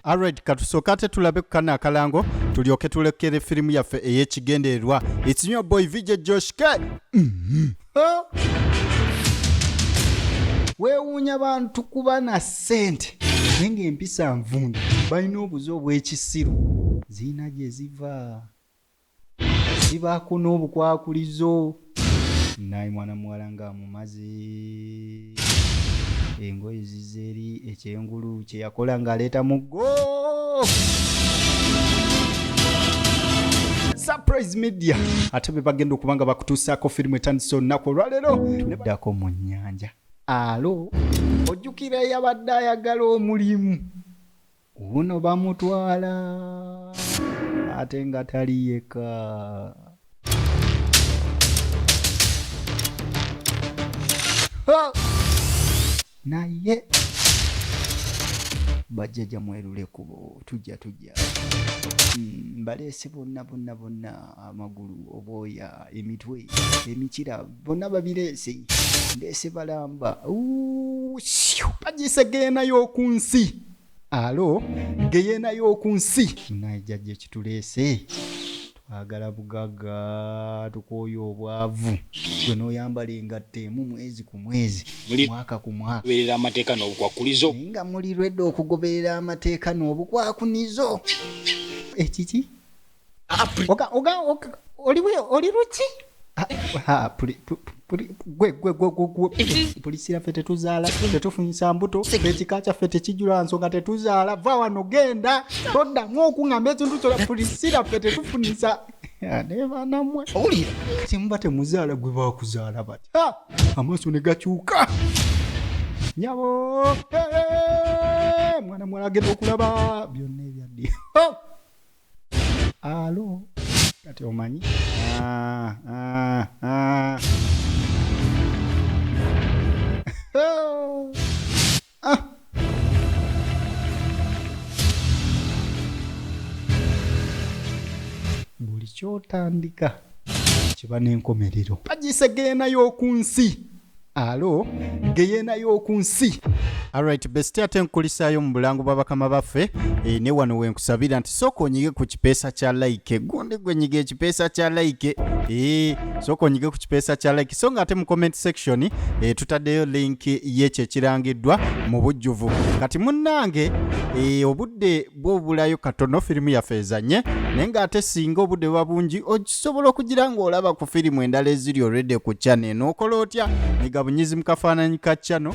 Alright, katusooka ate tulabe ku kano akalango tulyoke tulekere firimu yaffe ey'ekigendererwa. It's your boy VJ Josh K. Mm-hmm. Weewuunya bantu kuba na ssente naye ng'empisa nvundu balina obuze obw'ekisiru ziina gye ziva. Sibaako n'obukwakulizo. Naye mwana muwala nga amumaze engoye zizze eri ekyengulu kye yakola ng'aleeta muggo surprise media ate be bagenda okuba nga bakutuusaako firimu etandise olunaku olwaleero tuddako mu nnyanja alo ojjukira eyabadde ayagala omulimu Wuuno bamutwala ate nga tali yekka. Naye bajjaja mwerule kubo tujja tujja hmm, mbaleese bonna bonna bonna amagulu obwoya emitwe emikira bonna babireese ndeese balamba bajisegeenayo ku nsi alo geyeena y'oku nsi munaye jajja ekituleese twagala bugaga tukooye obwavu gwe n'oyambala engatto emu mwezi ku mwezi mwaka ku mwakaberera amateeka n'obukwakkulizo naye nga muli rwedde okugoberera amateeka n'obukwakunizo ekiki eh, oli luki polisi yaffe tetuzaala tetufunyisa mbuto ekika kyaffe tekijula nsonga tetuzaala va wano genda toddamu okuŋamba ekintu kyola polisi yaffe tetufunyisa nebanamwe owulira simuba temuzaala gwe bakuzaala bati amaaso ne gakyuka nyabo mwana mwala agenda okulaba byonna ebyaddi alo kati omanyi ah, ah, ah. buli kyotandika kiba n'enkomerero pagisa geenayo oku nsi alo geyeena y'oku nsi alright besti ate nkulisaayo mu bulango bwa bakama baffe e, ne wano wenkusabira nti sooka onyige ku kipeesa kya like gundi gwenyiga ekipeesa kya like e, sooka onyige ku kipeesa kya like so nga ate mu comment section e, tutaddeyo link yekyo ekirangiddwa mu bujjuvu kati munnange e, obudde bwobulayo katono firimu yaffe ezanye naye ng'ate singa obudde buba bungi okisobola okugira ng'olaba ku firimu endala eziri olwedde ku chano enookola otya nyiga bunyizi mu kafaananyi ka chano